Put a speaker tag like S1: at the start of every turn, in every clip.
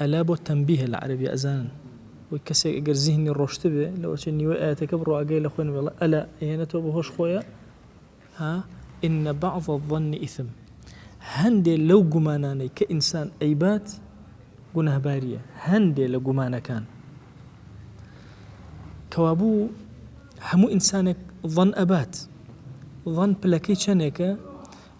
S1: ئەلا بۆ تەنبیهە لە عەرەبی ئەزانن وەی کەسێک ئەگەر زیهنی ڕۆشتبێ لەوەچێ نیوەی ئایەتەکە بڕۆ ئاگای لە خۆی نەبێ ئەڵێ ئەلا ئەیهێنێتەوە بە هۆش خۆیە ها ان بعض الظن اثم هەندێ لەو گومانانەی کە ئینسان ئەیبات گوناهباریە هەندێ لە گومانەکان کەوابوو هەموو ئینسانێک ظن ئەبات ظن پلەکەی چەندێکە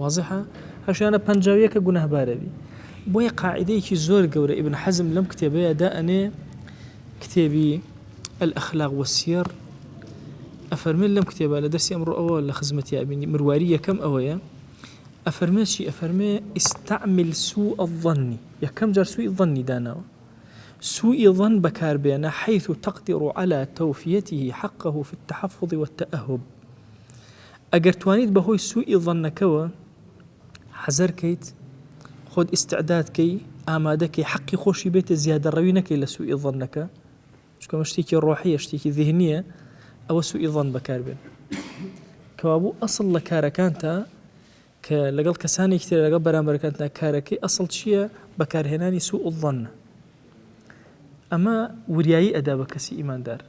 S1: وازحە هەشیانە پەنجا و یەکە گوناهبارەبی بۆیە قاعدەیەکی زۆر گەورە ابن حزم لەم کتێبەیە دا ئەنێ کتێبی الاخلاق والسیر ئەفەرمێت لەم کتێبە لە دەرسی ئەمڕۆ ئەوە لە خزمەتی ئەبینی مرواری یەکەم ئەوەیە ئەفەرمێت چی ئەفەرمێ ئیستعمل سوء الظن یەکەم جار سوی ظنی داناوە سوء ظن بەکاربێنە حيث تقدر على توفيته حقه في التحفظ والتأهب ئەگەر توانیت بەهۆی سوء ظنەکەوە حەزەر کەیت خۆت ئیستعداد کەی ئامادە کەی حەقی خۆشی بێتە زیادە ڕەوی نەکەی لە سوء ظنەکە چکەمە شتێکی ڕۆحیە شتێکی ذهنیە ئەوە سوء ظن بەکاربێن کەوابوو ئەسڵ لە کارەکانتە کە لەگەڵ کەسانێکی تر لەگەڵ بەرامبەرەکانتە کارەکەی ئەسڵ چییە بەکارهێنانی سوء ظنە ئەمە وریایی ئەدا بە کەسی ئیماندار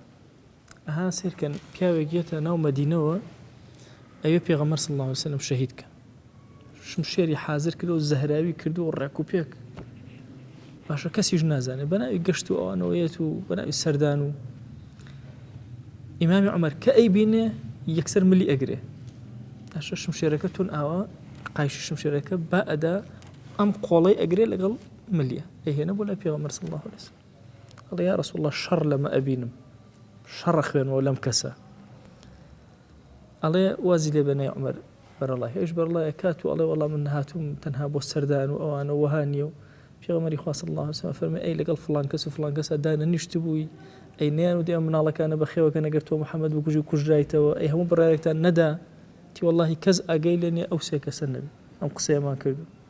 S1: ئەها سەیرکەن پیاوێک یەتە ناو مەدینەوە ئەوێ پێغەمەر صلی الله عليه وسلم شەهید کە شمشێری حاضر کرد و زەهراوی کرد و ڕێک و پێک باشە کەسیش نازانێ بەناوی گەشت و ئەوانەوەیەت و بەناوی سەردان و ئیمامی عمر کە ئەی بینێ یەکسەر ملی ئەگرێ تاشە شمشێرەکە تون ئاوا قایشی شمشێرەکە با ئەدا ئەم قۆڵی ئەگرێ لەگەڵ ملیە ئەهێنە بۆ لە پێوە مەرسڵ الله لەسەر ئەڵێ یا رسول اللە شەڕ لەمە ئەبینم شەڕ ئەخوێنمەوە لەم کەسە ئەڵێ وازی لێ بەنێ عمر بەرەڵا هێش بەرڵایە کات و ئەڵێ وەڵام من هاتووم تەنها بۆ سەردان و ئەوانە وەها نییە و پێغەمەری خواست الله وسلم فەرمە ئەی لەگەڵ فلان کەس و فلان کەسە دانە نیشت بووی ئەی نیان و دێ مناڵەکانە بەخێوەکە نەگەر تۆ محەممەد بکوژی و کوژرایتەوە ئەی هەموو بڕارێکتان نەدا تی واللهی کەس ئاگەی لێنێ ئەو سێ کەسە نەبێ ئەم قسەیەمان کردو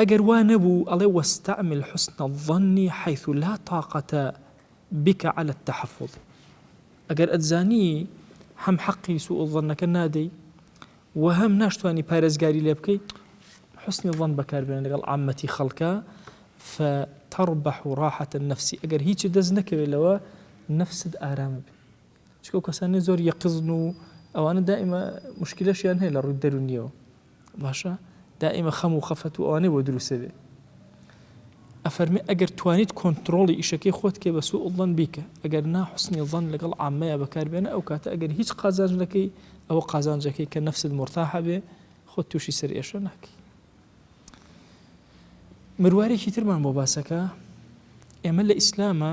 S1: ئەگەر وا نەبوو ئەڵێ واستعمل حسن الظن حیث لا طاقەت بک علی التحفظ ئەگەر ئەتزانی هەم حەقی سوء الظنەکە نادەی و هەم ناشتوانی پارێزگاری لێ بکەی حسنی ظن بەکاربێن لەگەڵ عامەتی خەڵکە فتربح راحة النفس ئەگەر هیچ دەست نەکەوێت لەوە نفست ئارامە بێت چونکە ئەو کەسانەی زۆر یەقزن و ئەوانە دائیمە مشکلەشیان هەیە لە ڕووی دەرونیەوە باشە دائیمە خەم و خەفەت و ئەوانەی بۆ دروستە بێ ئەفەرمی ئەگەر توانیت کۆنتترۆڵی ئیشەکەی خۆت کێ بە سوء ڵەن بیکە ئەگەر ناحسنی ڵەن لەگەڵ ئامەیە بەکاربێنە ئەو کاتە ئەگەر هیچ قازانجەکەی ئەوە قازانجەکەی کە نەفسد مرتاحە بێ خۆ تووشی سەر ئێشە ناکەی مروارێکی ترمان بۆ باسەکە ئێمە لە ئیسلامە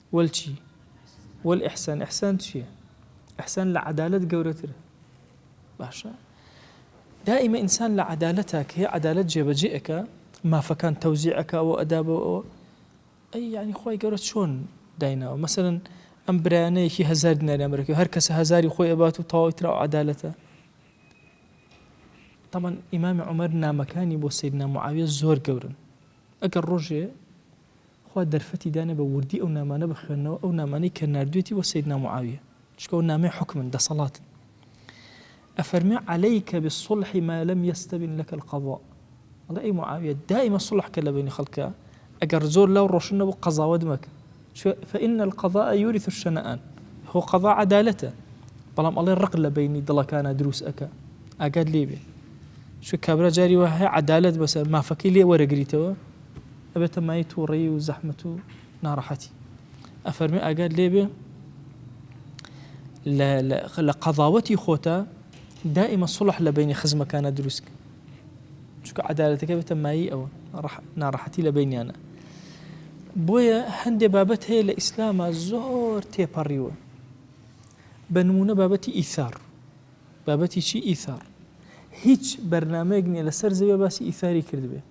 S1: وەل چی؟ وەل ئیحسان ئیحسان چیە؟ ئیحسان لە عەدالەت گەورەترە باشە دائیمە ئینسان لە عەدالەتە کە هەیە عەدالەت جێبەجێ ئەکا مافەکان تەوزیع ئەکا ئەوە ئەدا بۆ ئەوە ئەی یعنی خۆی گەورە چۆن دایناوە مەسەرن ئەم برایانەیەکی هزار دیناریان بەرەکە هەر کەسە هزاری خۆی ئەبات و تەواوی ترا عەدالەتە طبعا ئیمامی عمر نامەکانی بۆ سیدنا معاویە زۆر گەورن ئەگەر ڕۆژێ خوا دەرفەتی دانێ بە وردی ئەو نامانە بخوێننەوە ئەو نامانەی کە ناردوێتی بۆ سەیدنا معاویە چونکە ئەوە نامەی حوکمن دەسەڵاتن ئەفەرمێ عەلەیکە بالصلح ما لم یستبن لەکە القضاء ئەڵێ ئەی معاویە دائیمە صلح کە لە بینی خەڵکە ئەگەر زۆر لەو ڕۆشن نەبوو قەزاوەت مەکە فإن القضاء يورث الشنآن هو قضاء عدالته بەڵام ئەڵێ ڕق لە بینی دڵەکانە دروست ئەەکە ئاگات لێبێ شو کابرا جاری وە هەیە عدالت بەسەر مافەکەی لێ وەرەگریتەوە ئەبێتە مایەی توڕەیی و زەحمەت و ناڕەحەتی. ئەفەرمێ ئاگات لێبێ لە قەضاوەتی خۆتا دائیمە سڵح لە بینی خزمەکانە دروستکە چکە عدالەتەکە بێتە مایی ئەوە ناڕەحەتی لە بینیانە بۆیە هەندێ بابەت هەیە لە ئیسلامە زۆر تێپەڕیوە بە نمونە بابەتی ئیثار بابەتی چی ئیثار هیچ بەرنمەیەک نیە لەسەر زەوێ باسی ئیثاری کردبێت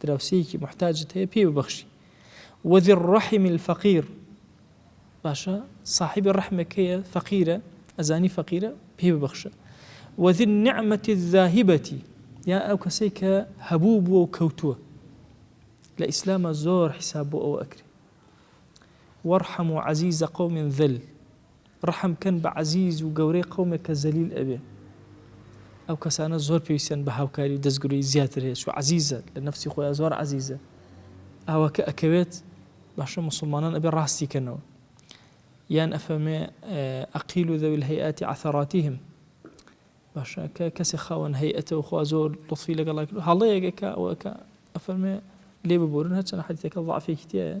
S1: دراوسێیەکی موحتاجت هەیە پێی ببەخشی وذی الرحم الفقیر باشە صاحبی ڕحمێک هەیە فەقیرە ئەزانی فەقیرە پێی ببەخشە وذی النعمة الذاهبة یا ئەو کەسەی کە هەبوو بووە و کەوتووە لە ئیسلامە زۆر حیساب بۆ ئەوە ئەکرێ وەرحەم و عزیزە قەومن ذل ڕەحم کەن بە عەزیز و گەورەی قەومێک کە زەلیل ئەبێ ئەو کەسانە زۆر پێویستیان بە هاوکاری و دەستگرۆی زیاتر هەیە چوو عەزیزە لە نەفسی خۆیا زۆر عەزیزە ئاوا کە ئەکەوێت باشە موسڵمانان ئەبێ ڕاستی کەنەوە یان ئەفەرمێ ئەقیل و ذوی الهیئات عثراتهم باشە کە کەسێ خاوەن هەیئەتەوە خوا زۆر لطفی لەگەڵا کرد هەڵەیەکە ئەوەکە ئەفەرمێ لێ ببورن هەرچەند حەدیثەکە ضعفێکی تایە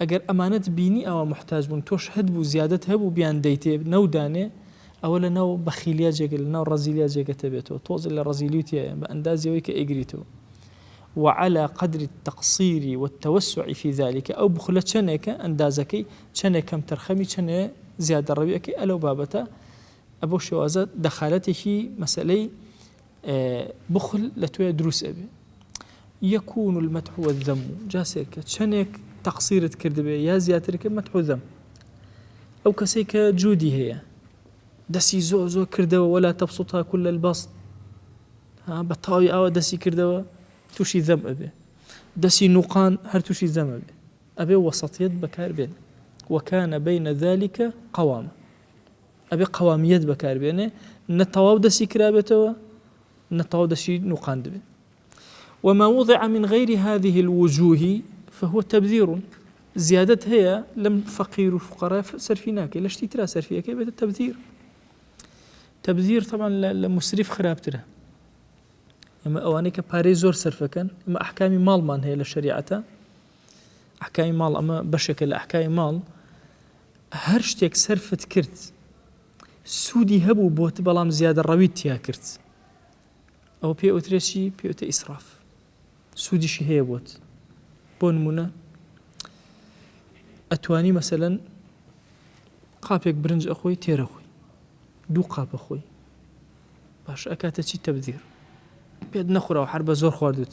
S1: ئەگەر ئەمانەت بینی ئاوا موحتاج بوون تۆش هەت بوو زیادەت هەبوو بیان دەیتێ نەو دانێ ئەوە لە ناو بەخیلیا جێگە لە ناو ڕەزیلیا جێگەتە بێتەوە تۆزێ لە ڕەزیلی و تیایە بە ئەندازی ئەوەی کە ئەیگریتەوە وعلی قدر التقصیر والتوسع فی ذلک ئەو بخلە چەنێکە ئەندازەکەی چەنێ کەم تەرخەمی چەنێ زیادە ڕەوی ئەکەی ئەلەو بابەتە ئەبۆ شێوازە دەخالەتێکی مەسەلەی بخل لە تۆیە دروست ئەبێ. یکون المدح والذم جا سەیرکە چەنێک تەقسیرت کردبێ یا زیاتر کرد مدح و ذم ئەو کەسەی کە جودی هەیە دەسی زۆر زۆر کردەوە ولا تبسطها كل البسط ها بە تاوی ئاوە دەسی کردەوە تووشی ذم ئەبێ دەسی نوقان هەر تووشی ذم ئەبێ ئەبێ وەسەتیت بەکار بێن وەکانە بینە ذلكە قەوامە ئەبێ قەوامییەت بەکار بێنێ نە تەواو دەستی کرابێتەوە نە تەواو دەستی نوقاندبێ وما وضع من غير هذه الوجوه فهو تبذير زیادت هەیە لەم فەقیر و فقڕای سەرفی ناکەی لە شتی ترا سەرفیەکەی بێتە تەبدیر تەبدیر تەمان لە مسریف خراپترە ئێمە ئەوانەی کە پارەی زۆر سەرفەکەن ئمە ئەحکامی ماڵمان هەیە لە شریعەتە ئەحکامی ماڵ ئەمە بەشێکە لە ئەحکامی ماڵ هەر شتێک سەرفت کرد سوودی هەبوو بۆت بەڵام زیادە ڕەویت تیا کرد ئەو پێ ئۆترێسی پێوتە ئیسراف سوودیشی هەیە بۆت بۆ نمونە ئەتوانی مەسەن قاپێک برنج ئەخۆی تێرە خۆی دوو قاپە خۆی باش ئەکاتە چی تەبدیر پێت نەخورەوە هەر بە زۆر خواردوت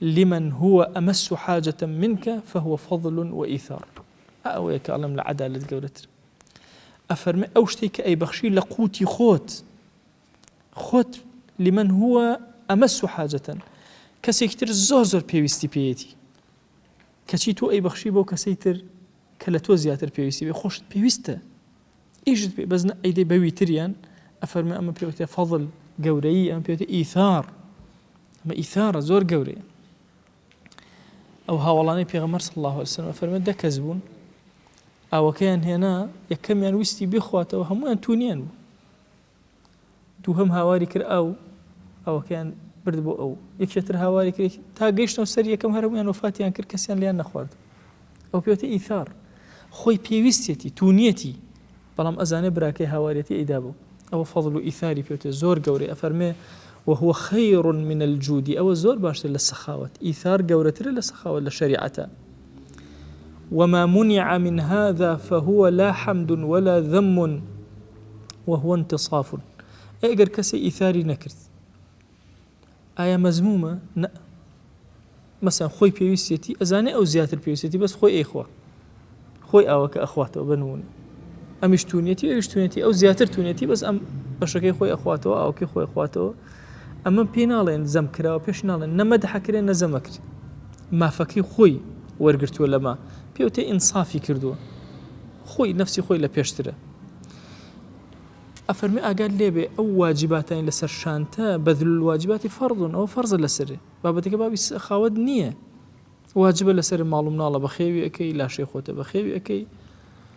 S1: لمن هو امس حاجە منک فهو فضل وایثار ئا ئەوەیە کە ئەڵێم لە عەدالەت گەورەتر ئەفەرمێ ئەو شتێک کە ئەیبەخشی لە قوتی خۆت خۆت لمن هو امس حاجە کەسێکی تر زۆر زۆر پێویستی پێیەتی کەچی تۆ ئەیبەخشی بۆ کەسەی تر کە لە تۆ زیاتر پێویستی بێ خۆشت پێویستە ئیشت پێ بەس نە ئەیدەی بەوی تریان ئەفەرموێ ئەمە پێوتێ فەضل گەورەیی ئەم پێوتێ ئیثار ئەمە ئیثارە زۆر گەورەیە ئەو هاوڵانەی پێغەمەر صلی الله عليه وسلم فەرمە دە کەس بوون ئاوەکەیان هێنا یەکەمیان ویستی بخواتەوە هەمویان تونیان بوو دووهەم هاواری کرد ئاو ئاوەکەیان برد بۆ ئەو یەکێ تر هاواری کرد تا گەیشتەوە سەر یەکەم هەرەموویان وەفاتیان کرد کەسیان لیان نەخوارد ئەو پێوتە ئیثار خۆی پێویستێتی تونیەتی بەڵام ئەزانێ براکەی هاواریەتی ئەیدا بوو ئەوە فەضل و ئیثاری پێوتێ زۆر گەورەی ئەفەرمێ وهو خير من الجودی ئەوە زۆر باشتر لە سەخاوت ئیثار گەورەترە لە سەخاوت لە شەریعەتە وما منع من هذا فهو لا حمد ولا ذم وهو انتصاف ئەی ئەگەر کەسێ ئیثاری نەکرد ئایا مەزمومە نە مەسەن خۆی پێویستێتی ئەزانێ ئەو زیاتر پێویستێتی بەس خۆی ئەیخوا خۆی ئاوەکە ئەخواتەوە بنمونە ئەمیش تونەتی ئەوش تونەتی ئەو زیاتر تونەتی بەس ئەم بەشەکەی خۆی ئەخواتەوە ئاوکی خۆی خواتەوە ئەمە پێ ناڵێن زەم کراوە پێش ناڵێن نەمەدحەکرێن نەزەمەکرێت مافەکەی خۆی وەرگرتووە لەمە پێ وتێ ئینسافی کردووە خۆی نفسی خۆی لە پێشترە ئەفەرمی ئاگات لێبێ ئەو واجباتانی لەسەر شانتە بەدل واجباتی فەرزون ئەو فەرزە لەسەرێ بابەتەکە بابی خاوت نییە واجبە لەسەر ماڵم ناڵە بەخێوی ئەەکەی لاشەی خۆتە بەخێوی ئەەکەی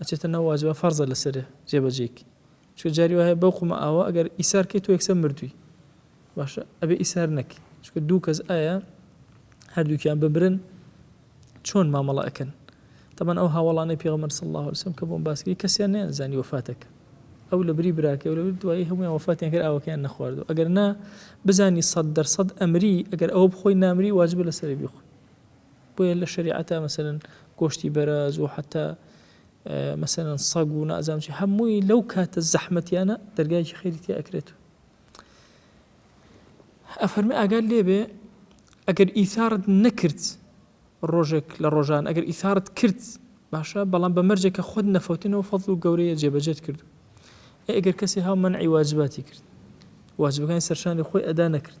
S1: ئەچێتە ناو واجبە فەرزە لەسەر جێ بەجێی کەی چونکە جاری وایە بەو قومە ئاوە ئەگەر ئیسار کەی تۆ یەکسەر مردوی باشە ئەبێ ئیسار نەکەی چونکە دوو کەس ئایا هەردووکیان بمرن چۆن مامەڵە ئەکەن تەمان ئەو هاوڵانەی پێغمەر سڵ الله وسم کە بۆم باسکری کەسیان نیانزانی وفاتەکە ئەو لە بری براکە لە دوایی هەمویان وفاتیان کرد ئەوەکەیان نەخواردو ئەگەر نا بزانی سەد دەرسەد ئەمری ئەگەر ئەو بخۆی نامری واجبە لەسەر بیخۆی بۆیە لە شەریعەتا مەسەلەن گۆشتی بەراز و حەتا مەسەلەن سەگ و نازام چی هەمووی لەو کاتە زەحمەتیانە دەرگایکی خێری تێ ئەکرێت و ئەفەرمی ئاگال لێبێ ئەگەر ئیثارت نەکرد ڕۆژێک لە ڕۆژان ئەگەر ئیثارت کرد باشە بەڵام بە مەرجێکە خۆت نەفەوتنەوە فەڵ و گەورەیە جێبەجێت کرد ئەگەر کەسی هاو منعی واجباتی کرد واجبەکانی سەرشانی خۆی ئەدا نەکرد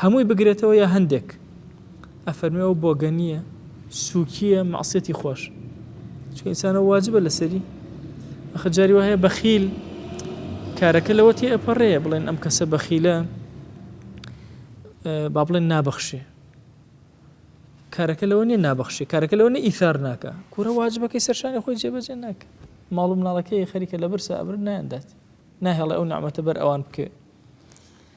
S1: هەمووی بگرێتەوە یا هەندێک؟ ئەفەرموێ ئەو بۆگەنییە، سووکییە، مەعسیەتی خۆش. چونکە ئینسانە واجبە لەسەری. ئەخە جاری وایە بەخیل کارەکە لەوە تێ ئەپەڕێ بڵێن ئەم کەسە بەخیلە با بڵێن نابەخشێ. کارەکە لەوە نیە نابەخشێ کارەکە لەوە نە ئیثار ناکە کورە واجبەکەی سەرشانی خۆی جێبەجێ ناکە ماڵ و مناڵەکەی خەریکە لە برسا ئەبر نایاندات ناهێڵێ ئەو نامەتە بەر ئەوان بکەێت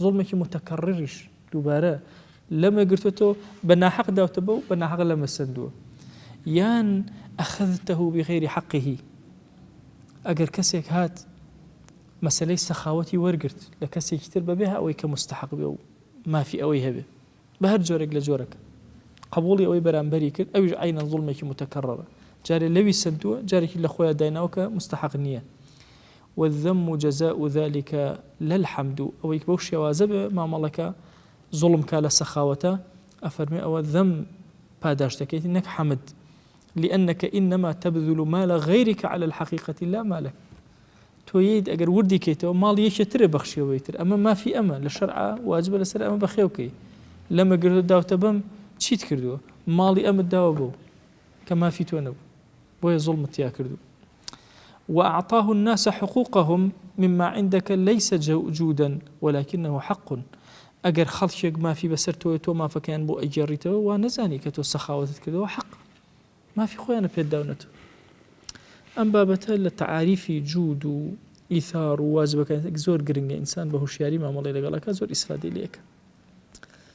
S1: زوڵمێکی موتەکەڕڕیش، دووبارە، لەمە گرتۆتەوە، بە ناحەق داوتە بە و بە ناحەق لەمە سەندووە. یان، اخذته بغیر حقه، ئەگەر کەسێک هات مەسەلەی سەخاوەتی وەرگرت لە کەسێکی تر بەبێ ئەوەی کە موستەحەق بێ و مافی ئەوەی هەبێ بە هەر جۆرێک لە جۆرەکە قبوڵی ئەوەی بەرامبەری کرد ئەویش عینەن زوڵمێکی متەکەڕڕە جارێ لەوی سندووە جارێکی لە خۆیان دایناوە کە مستحق نییە والذم جزاء ذلک لا الحمد ئەوەی بەو شێوازە بێ مامەڵەکە زوڵم کا لە سەخاوەتە ئەفەرمێ ئەوە ذم پاداشت دەکەیت نەک حمد لأنک انما تبذل مال غیرک علی الحقیقە لا مالک تۆ یەیت ئەگەر وردی کەیتەوە ماڵ یەکێ ترێ بەخشیەوەی تر ئەمە مافی ئەمە لە شەرع واجبە لەسەر ئەمە بەخێوکەی لەمە گردە داوتە بەم چیت کردووە ماڵی ئەمت داوە بۆ کە مافی تۆ نەبوو بۆیە زوڵمت تیا کردو واعطاه الناس حقوقهم مما عندك ليس جودا ولكنه حق ئەگەر خەڵکێک مافی بەسەر تۆی تۆ مافەکەیان بۆ ئەگێڕیتەوە وا نەزانی کە تۆ سەخاوەتت کردەوە حەق مافی خۆیانە پێت داونەتەوە ئەم بابەتە لە تعاریفی جوود و ئیثار و واجبەکان زۆر گرنگە ئینسان بە هوشیاری مامەڵی لەگەڵەکە زۆر ئیسفادی لەکە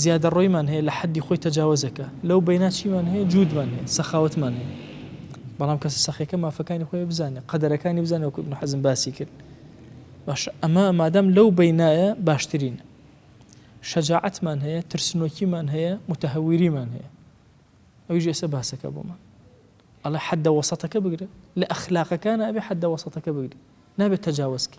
S1: زیادەڕۆیمان هەیە لە حەدی خۆی تەجاوەزەکە، لەو بەینا چیمان هەیە جوودمان هەیە، سەخاوەتمان هەیە. بەڵام کەسە سەخیەکە مافەکانی خۆی بزانێت، قەدەرەکانی بزانێت وەکو ابن حەزم باسی کرد. باش ئەمە مادام لەو بەینایە باشترین. شەجاعەتمان هەیە، ترسنۆکیمان هەیە، متەهەویریمان هەیە. ئەویش ئێستا باسەکە بۆمان. ئەڵێ حەدە وەسەتەکە بگرە لە ئەخلاقەکانە ئەبێ حەدە وەسەتەکە بگری نابێت تەجاوزکە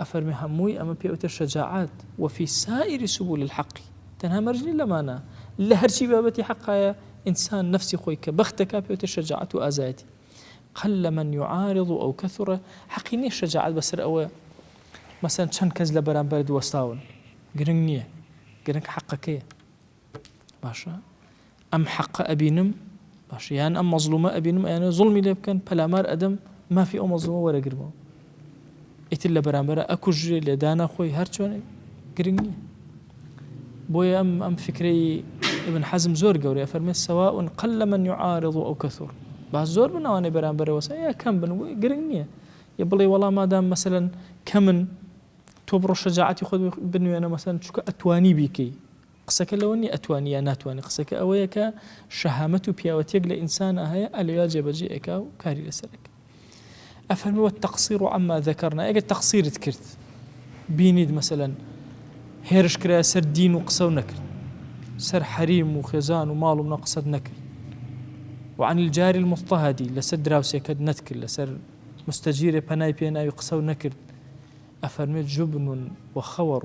S1: ئەفەرمێ هەمووی ئەمە پێ ئەوترێ شەجاعەت وەفی سائیری سبول الحق تەنها مەرج نیە لەمانە لە هەرچی بابەتی حەقایە ئینسان نفسی خۆی کە بەختەکە پێ ئەوترێ شەجاعەت و ئازایەتی قل من يعارض و ئەو کەثڕە حەقی نیە شەجاعەت بەسەر ئەوە مەسەن چەند کەس لە بەرامبەرت وەستاون گرنگ نییە گرنگ حەقەکەیە باشە ئەم حەقە ئەبینم باشە یان ئەم مەزلومە ئەبینم ئەیانە زڵمی لێ بکەن پەلامار ئەدەم مافی ئەو مەزلومە وەرەگرمەوە ئیتر لە بەرامبەر ئەکوژرێ لێدانە خۆی هەرچۆنێک گرنگ نییە بۆیە ئەم ئەم فکرەی ابن حەزم زۆر گەورەیە فەرمێ سەوا ئون قل لە من یعاارض و ئەو کەثور با زۆر بناوانەی بەرامبەرەوە سەیە کەم بن گرنگ نییە یە بڵێ وەڵام مادام مەسەن کەمن تۆ بڕۆ شەجاعاتی خۆ بنوێنە مەسەن چکە ئەتوانی بیکەی قسەکە لەوە نیە ئەتوانی یا ناتوانی قسەکە ئەوەیە کە شەهامەت و پیاوەتیەک لە ئینسانا هەیە ئا لەویا جێبەجێ ئەکا و کاری لەسەر ئەکا ئەفەرموو والتقصیر عما ذکرنا ئەگەر تەقصیرت کرد بینیت مەسەلەن هێرش کرایە سەر دین و قسە و نەکرد سەر حەریم و خێزان و ماڵ و منە قسەت نەکرد وعن الجاری المضطهدی لەسەر دراوسێکەت نەتکرد لەسەر مستەجیرێ پەنای پێناوی قسە و نەکرد ئەفەرمێت جبن و خەوەڕ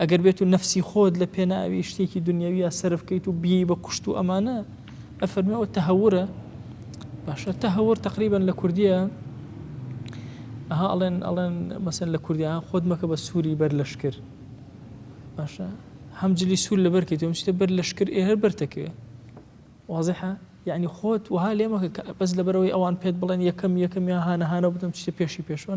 S1: ئەگەر بێت و نەفسی خۆت لە پێناوی شتێکی دنیاویە سرف کەیت و بی بە کوشت و ئەمانە ئەفەرمە ئەو تەهورە باشە تەهور تقریبان لە کوردیە ئەها ئەڵێن ئەڵێن مەسن لە کوردیا خۆت مەکە بە سووری بەر لەش کرد باشە هەم جلی سوور لە بەرکەیت و شتە بەر لەش کرد ئێ هەر بەرتەکەوێ وازحە یعنی خۆت وها لێمەکە بەس لەبەرەوەی ئەوان پێت بڵێن یەکەم یەکەم یا هاانەهانە بدەم شتە پێشی پێشوەە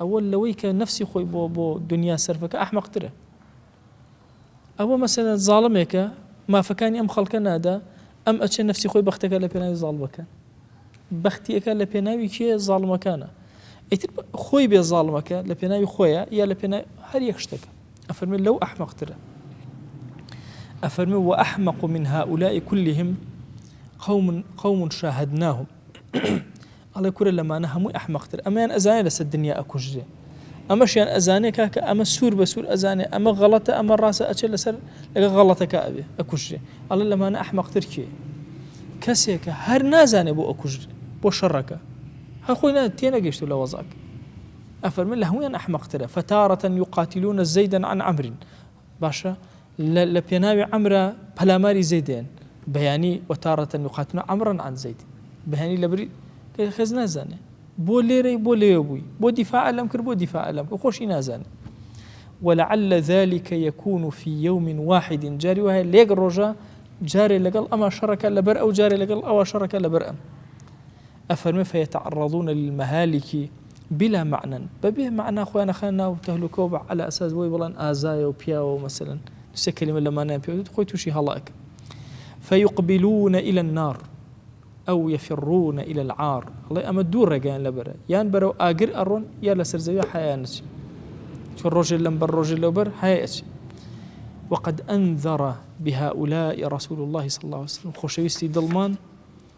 S1: ئەوە لەوەی کە نەفسی خۆی بۆ بۆ دونیا سەرفەکە ئەحمەقترە ئەوە مەسەلەن زاڵمێکە مافەکانی ئەم خەڵکە نادا ئەم ئەچێ نفسی خۆی بەختەکە لە پێناوی زاڵ بکەن بەختیەکە لە پێناوی کێ زاڵمەکانە ئیتر خۆی بێ زاڵمەکە لە پێناوی خۆیە یا لە پێنا هەر یەک شتەکە ئەفەرمێ لەو ئەحمەقترە ئەفەرمێ و ئەحمەق من هاولای کولیهم قوم قوم شاهدناهم ئەڵێ کورە لەمانە هەمووی ئەحمەقتر ئەمەیان ئەزانێ لەسەر دنیا ئەکوژرێ ئەمەشیان ئەزانێ کاکە ئەمە سوور بە سوور ئەزانێ ئەمە غەڵەتە ئەمە ڕاستە ئەچێ لەسەر لەگە غەڵەتەکە ئەبێ ئەکوژرێ ئەڵێ لەمانە ئەحمەقتر کێ کەسێکە هەر نازانێ بۆ ئەکوژرێ بۆ شەڕەکە هەخۆی نا تێنەگەشت و لە وەزاک ئەفەرمە لە هەمویان ئەحمەقترە فتارة يقاتلون زيدا عن عمر باشە لە لە پێناوی عەمرا پەلاماری زەید دەیەن بەیانی وەتاڕەتەن یقاتنە عەمرن عن زەید بەیانی لەبری کە خێز نازانێ بۆ لێرەی بۆ لێوە بووی بۆ دیفاع لەم کرد بۆ دیفاع لەم کرد خۆشی نازانێ ولعل ذلك يكون في يوم واحد جاری وایە لێک ڕۆژە جارێ لەگەڵ ئەما شەڕەکە لەبەر ئەو جارێ لەگەڵ ئەوە شەڕەکە لەبەر ئەم ئەفەرمێ فیتعرضون للمهالک بلا معنی بە بێ مەعنا خۆیان ئەخەنە ناو تەهلوکە و عەلا ئەساس بۆی بڵێن ئازایە و پیاوە و مەسەلەن سێ کەلیمە لە مانایان پێ وتت خۆی تووشی هەڵە ئەکە فیقبلون الى النار ئەو یفرون الى العار ئەڵێ ئەمە دوو ڕێگەیان لەبەرە یان بەرەو ئاگر ئەڕۆن یا لەسەر زەوی حەیان نچی چۆن ڕۆژێ لەم بەر ڕۆژێ لەوبەر هەیە ئەچی وقد أنذر بهؤلاء رسول الله صلى الله عليه وسلم خۆشەویستی دڵمان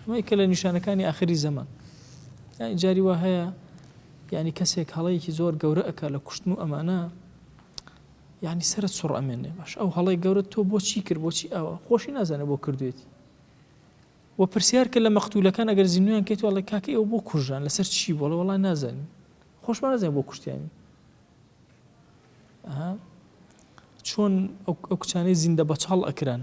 S1: ئەمە یەکە لە نیشانەکانی ئاخری زەمان یانی جاری وا هەیە یعنی کەسێک هەڵەیەکی زۆر گەورە ئەک لە کوشتن و ئەمانە یعنی سرت سڕ ئەمێنێ باش ئەو هەڵی گەورە تۆ بۆچی کرد بۆچی ئەوە خۆشی نازانە بۆ کردوێتی و پرسیار کە لە مەختولەکان ئەگەر زیینویان کەیت وڵی کاکە ئەو بۆ کوژان لەسەر چی بۆڵە وڵا نازانین خۆشمان نازانین بۆ کوشتیانی چۆن ئەو کچانەی زیندە بەچڵ ئەکران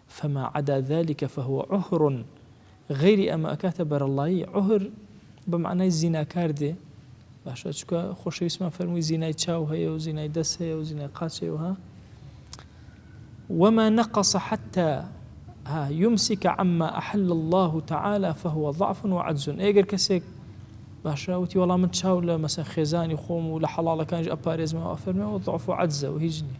S1: فما عدا ذلک فهو عهر غەیری ئەمە ئەکاتە بەرەڵڵایی، عهر بە مەعنای زیناکار دێ، باشە چونکە خۆشەویستمان فەرمووی زینای چاو هەیە و زینای دەست هەیە و زینای قاچ هەیە وەها وما نقص حتى ها يمسك عما احل الله تعالى فهو ضعف وعجز ئەگەر کەسێک باشە وتی وەڵام من چاو لە مەسە خێزانی خۆم و لە حەڵاڵەکانش ئەپارێزمەوە ئەفەرمەوە ضعف و عجزە و هیچ نیە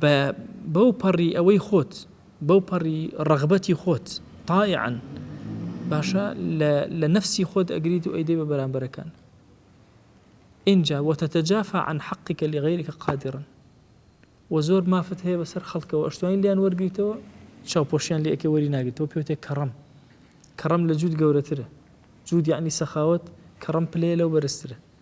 S1: بە بەو پەڕی ئەوەی خۆت، بەو پەڕی ڕەغبەتی خۆت، طائعا، باشە لە لە نەفسی خۆت ئەگریت و ئەیدەی بە بەرامبەرەکان. ئینجا وتتجافی عن حقک لغیرک قادرا و زۆر مافت هەیە بەسەر خەڵکەوە ئەشتوانی لیان وەرگریتەوە چاوپۆشیان لێ ئەکەی وەری ناگریتەوە پێوتێ کەڕەم کەڕەم لە جوود گەورەترە جوود یعنی سەخاوت کەڕەم پلەیە لەو بەرزترە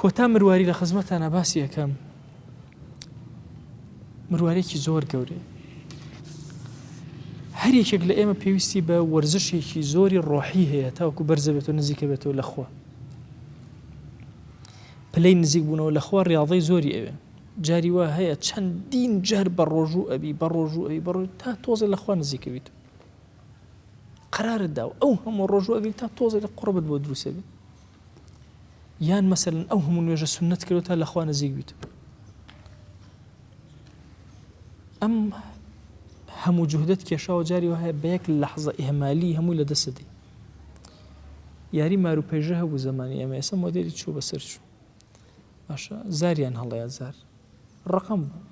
S1: کۆتا مرواری لە خزمەتانا باسی ئەکەم مروارێکی زۆر گەورەیە هەر یەکێک لە ئێمە پێویستی بە وەرزشێکی زۆری ڕۆحی هەیە تاوکو بەرزە بێت و نزیکە بێتەوە لەخوا پلەی نزیک بوونەوە لەخوا ڕاضی زۆری ئەوێ جاری وا هەیە چەندین جار بە ڕۆژوو ئەبی بە ڕۆژوو ئەوی بە ڕۆژ تا تۆزە لەخوا نزیکەویت قرارت دا و ئەو هەموو ڕۆژوو ئەگەی تا تۆزە لە قڕبت بۆ دروسێبێت یان مەسەلەن ئەو هەموو نوێژە سنت کردو تا لەخوا نزیک بیت ئەم هەموو جوهدت کێشاوە جاری وهەیە بە یەک لەحزە ئێمالی هەمووی لە دەستی یاری مارو پێژە هەبوو زمانی ئەمە ئێستا مۆدێری چوو بەسەر چوو باشە زاریان هەڵەیە زار ڕقم بوو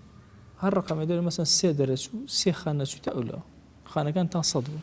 S1: هەر ڕقەمە دەێت مەسەن سێ دەرەچوو سێ خانەچووتە ئەولەوە خانەکان تا سەد بوو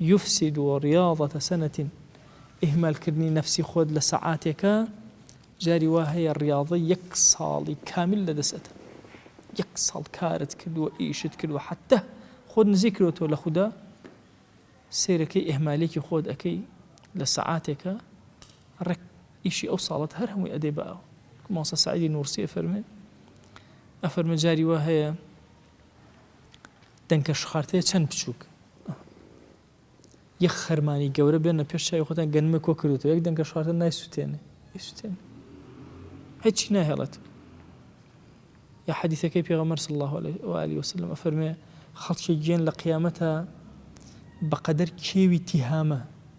S1: یفسد ریاضەتە سەنەت ئیهمال کردنی نەفسی خۆت لە سەعاتێکە جاری وا هەیە ریاضەی یەک ساڵی کامیل لە دەست ئەدا یەک ساڵ کارت کردووە ئیشت کردووە حەتە خۆت نزیک کردۆتەوە لە خودا سەیرەکەی ئیهمالێکی خۆت ئەکەی لە سەعاتێکە ڕێک ئیشی ئەو ساڵت هەر هەمووی ئەدێ باوە ماوسە سعیدی نورسی ئەفەرمێ ئەفەرمە جاری وا هەیە دەنکە شخارتێ چەند بچووک. یەک خەرمانی گەورە بێنە پێش چاوی خۆتان گەنمە کۆ کردوتەوە یەک دەنکە شخارتە نایسووتێنێ ئیسوتێن هیچی ناهێڵێت یا حەدیثەکەی پێغەمەر صلی الله عليه وسلم ئەفەرمێ خەڵکی گێن لە قیامەتە بەقەدەر کێوی تیهامە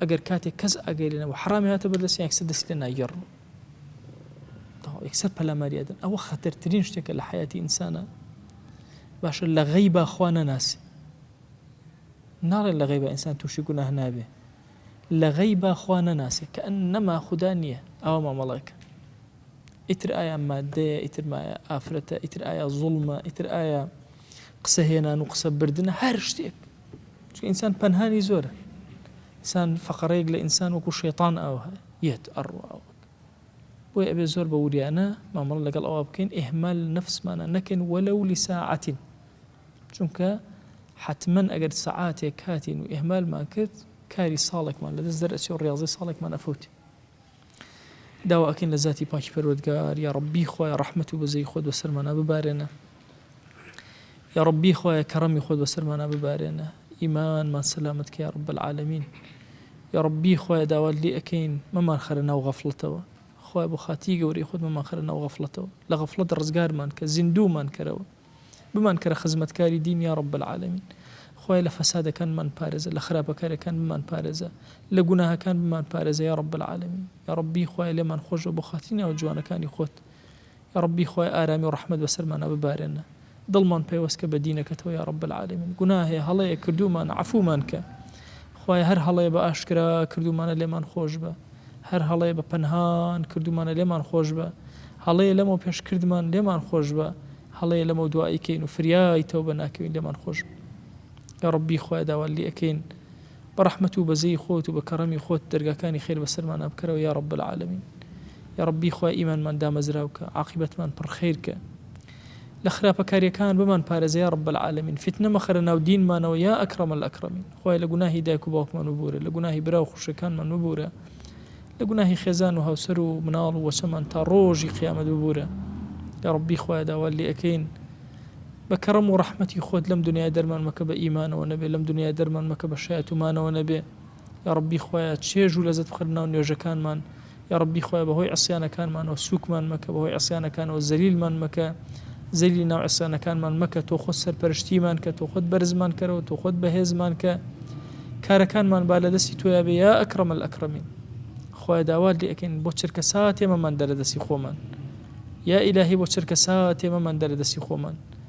S1: ئەگەر کاتێک کەس ئاگای لێ نەبوو حەڕامی هاتە بەردەستیان یەکسەر دەستی لێ ناگێڕن یەکسەر پەلاماری ئەدەن ئەوە خەتەرترین شتێکە لە حیاتی ئینسانە باشە لە غەی باخوا نەناسی ناڵێن لە غەی بە ئینسان تووشی گوناه نابێ لە غەی باخوا نەناسێ کە ئەن نەما خوددا نییە ئەوە مامەڵەکە ئیتر ئایا مادەیە ئیتر مایە ئافرەتە ئیتر ئایا زوڵمە ئیتر ئایا قسە هێنان و قسە بردن هەر شتێک چونکە ئینسان پەنهانی زۆرە ئینسان فەقەرەیەک لە ئینسان وەکو شێطان ئاوها یەت ئەڕوا بۆی ئەبێ زۆر بە وریانە مامەڵە لەگەڵ ئەوە بکەین ئهمال نفسمانە نەکەین وەلە و لیساعاتین چونکە حتمما ئەگەر سەعاتێک کاتین و ئهمالمان کرد کاری ساڵێکمان لە دەست دەرەچێ و ڕاضی ساڵێکمان ئەفوت داوا ئەکەین لە زاتی پاکی پەروەردگار یاڕەبی خوایە ڕەحمەت و بەزەیی خۆت بەسەرمانا ببارێنە یاڕەبی خوایە کەڕەمی خۆت بەسەرمانا ببارێنە ئیمانمان سەلامەت کە یاڕەب العالمین یاڕەبی خوایە داوات لێ ئەکەین مەمان خەرە ناو غەفڵەتەوە خوایە بۆ خاتی گەورەی خۆت مەمان خەرە ناو غەفڵەتەوە لە غەفڵەت ڕزگارمان کە زیندوومان کەرەوە بمان کەرە خزمەتکاری دین یا رب العالمین خوایە لە فەسادەکان بمان پارێزە لە خراپەکاریەکان بمان پارێزە لە گوناهەکان بمان پارێزە یا رب العالمین یا ربی خوایە لێمان خۆشبە بۆ خاتری ناوە جوانەکانی خۆت یا ربی خوای ئارامی و رەحمەت بەسەرمانا ببارێنە دڵمان پەیوەستکە بە دینەکەتەوە یا رب العالمین گوناه هەیە هەڵەیە کردومان عەفومان کە خوایە هەر هەڵەیە بە ئاشکرا کردومانە لێمان خۆشبە هەر هەڵەیە بە پەنهان کردوومانە لێمان خۆشبە، هەڵەیە لەمەو پێش کردمان لێمان خۆشبە، هەڵەیە لەمەو دوا ئەیکەین و فریای تەوبە ناکەوین لێمان خۆشبە. یا ربی خوایە داوات لێ ئەکەین بە رەحمەت و بەزەی خۆت و بە کەڕەمی خۆت دەرگاکانی خێر بەسەرمانا بکەرەوە یا رب العالمین. یا ربی خوایە ئیمانمان دامەزراوکە، عاقیبەتمان پڕ خەیرکە. لە خراپەکاریەکان بمان پارێزە یا رب العالمین فیتنە مەخەرە ناو دینمانەوە یا اکرم الاکرمین خوایە لە گوناهی دایک و باوکمان ببورە لە گوناهی برا و خوشکەکانمان ببورە لە گوناهی خێزان و هاوسەر و مناڵ و وەچەمان تا ڕۆژی قیامەت ببورە یا ربی خوایە داوات لێ ئەکەین بە کەڕەم و ڕەحمەتی خۆت لەم دنیای دەرمان مەکە بە ئیمانەوە نەبێ لەم دنیای دەرمان مەکە بە شایەتومانەوە نەبێ یاڕەبی خوایە چێژ و لەزەت بخەرە ناو نوێژەکانمان یاڕەبی خوایە بەهۆی عسیانەکانمانەوە سوکمان مەکە بەهۆی عسیانەکانەوە زەلیلمان مەکە زەلی ناو عسیانەکانمان مەکە تۆ خۆت سەرپەرشتیمان کە تۆ خۆت بەرزمان کەرەوە تۆ خۆت بەهێزمان کە کارەکانمان با لە دەستی تۆیا بێ یا ئەکرەمە ئەکرەمین خۆی داوات لێ ئەەکەین بۆ چرکە ساتێمەمان دەرە دەستی خۆمان یا ئیلاهی بۆ چرکە ساتێمەمان دەرە دەستی خۆمان